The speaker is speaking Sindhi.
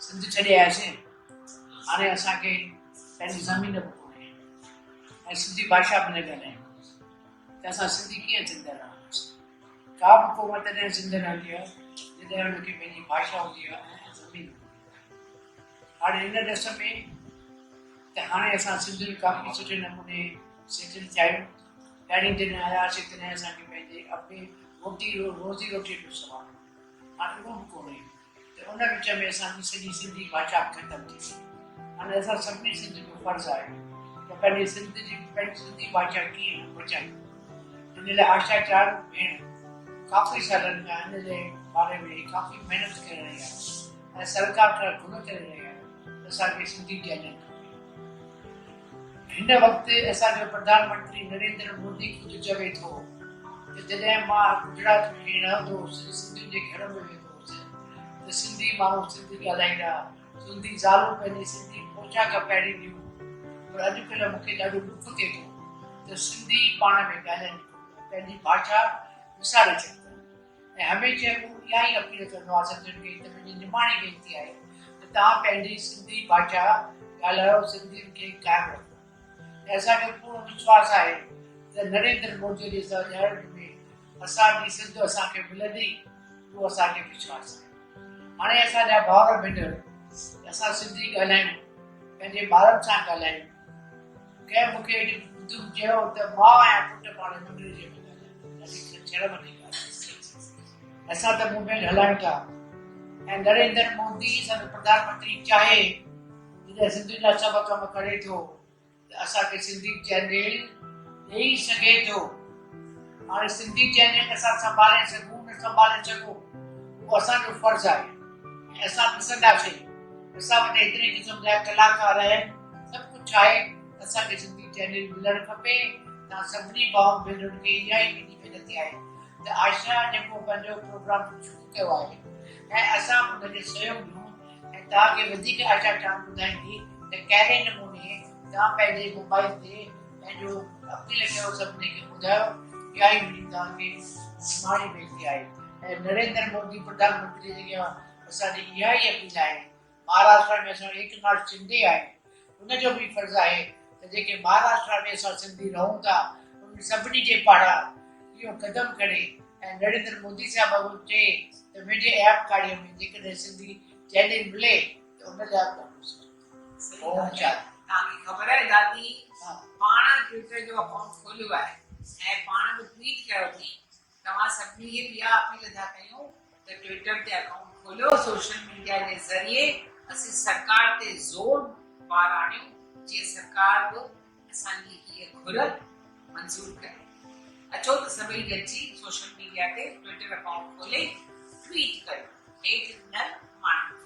سنڌ ڇڏي آياسين هاڻي اسان کي پنهنجي زمين به ڪونهي ۽ سنڌي ڀاشا به نه ڳالهايون ته اسان سنڌي ڪيئن زنده رهنداسين ڪا به قوم تڏهن زنده رهندي آهي جڏهن ان کي پنهنجي ڀاشا هوندي آهي ۽ زمين هاڻي ان ڏس ۾ ته هاڻي اسان سنڌين ڪافي سٺي نموني سيٽل ٿيا آهيون ڏاڏي جڏهن آياسي تڏهن اسان کي پنهنجي اپي روٽي روزي روٽي جو سوال هو هاڻ اهو به ڪونهي ته ان وچ ۾ اسان جي سڄي سنڌي ڀاشا به ختم ٿي وئي هاڻ اسان سڀني سنڌ جو فرض آهي ته پنهنجي سنڌ جي پنهنجي سنڌي ڀاشا ڪيئن بچائيون ان لاء آشا چار ڀيڻ ڪافي سالن کان ان جي باري ۾ ڪافي محنت ڪري رهي آهي ۽ سرڪار کان گهر ڪري رهي آهي ته اسان کي سنڌي چئنل کپي هن وقت اسان جو پرڌان منٽري نريندر مودي خود چوي ٿو ته جڏهن مان گجرات ۾ رهندو هوس سنڌين جي گهر ۾ ويندو هوس ته سنڌي ماڻهو سنڌي ڳالهائيندا سنڌي زالون پنهنجي سنڌي پوشاڪ پهرينديون پر اڄڪلهه مون کي ڏاڍو ڏک ٿئي ٿو ته سنڌي پاڻ ۾ ڳالهائين ئي ڪونه ٿا پنهنجي ڀاشا وساري ڇڏي اٿن. ۽ هميشه مون اها ئي اپيل ڪندو آهيان سنڌين کي ته منهنجي نماڻي وينتي آهي ته توهان پنهنجي سنڌي ڀاشا ڳالهايو سنڌين کي قائم رکو ۽ اسان کي پورو وشواس آهي ته نريندر مودي جي سرڄاڻپ ۾ اسان جي سنڌ اسان کي ملندي اهو اسان کي وشواس آهي هاڻي اسان جا ڀائر ڀينر اسان سنڌي ڳالهايون پنهنجي ٻارن سان ڳالهايون ڪنهن مون کي دک چيو ته ماء ۽ پٽ پاڻ ۾ ملي جي ڪونه ڳالهائين ٿا. وڌيڪ ته شرم جي ڳالهه آهي. سي سي سي اسان ته موومينٽ هلائيون ٿا ۽ نريندر مودي اسان جو پرڌان منتري چاهي جڏهن سنڌين لاء سڀ ڪم ڪري ٿو ته اسان کي سنڌي چئنل ڏئي سگهي ٿو. هاڻي سنڌي چئنل اسان سنڀالي سگهون نه سنڀالي سگهون اهو اسان جو فرض آهي ۽ اسان ڏسنداسين اسان وٽ ايتري قسم جا ڪلاڪار آهن. سڀ ڪجهه آهي اسان کي سنڌي چينل ملڻ کپي توهان سڀني ڀائن ڀينرن کي اها ئي منهنجي وينتي آهي ته عائشه جيڪو پنهنجو پروگرام شروع ڪيو آهي ۽ اسان به ان کي سهيوگ ڏيون ۽ توهان کي وڌيڪ عائشه جان ٻڌائيندي ته ڪهڙي نموني توهان پنهنجي موبائل تي پنهنجو اپيل ڪيو سڀني کي ٻڌايو اها ئي منهنجي توهان کي نماڻي وينتي آهي ۽ نريندر مودي پرڌان منتري جي اڳيان اسان جي اها ئي اپيل آهي مهاراشٽرا ۾ اسان ايڪ ناٿ شندي آهي ان جو به فرض آهي ته جيڪي مهاراشٽرا ۾ اسان سنڌي رهون ٿا انهن سڀني جي پاڙان اهو قدم کڻي ۽ نريندر مودي صاحب به چئي ته ويجهي ايام ڪاڙي ۾ جيڪڏهن سنڌي چئنل ملي ته ان لاء به ڏاڍو سٺو اوم شانتي. توهان کي خبر آهي دادي پاڻ ٽوئيٽر جو اڪائونٽ کوليو آهي ۽ پاڻ به ٽوئيٽ ڪيو اٿئين توهان سڀني کي به اها اپيل ٿا ڪيون ته ٽوئيٽر تي اڪائونٽ کوليو، سوشل ميڊيا جي ذريعي اسين سرڪار تي زور بار آڻيون جيئن سرڪار به اسان جي هيء گهر منظور ڪري. اچو ته سڀئي گڏجي سوشل ميڊيا تي ٽوئيٽر اڪائونٽ کولي ٽوئيٽ ڪريون هيٺ ڏنل ماڻهن تي.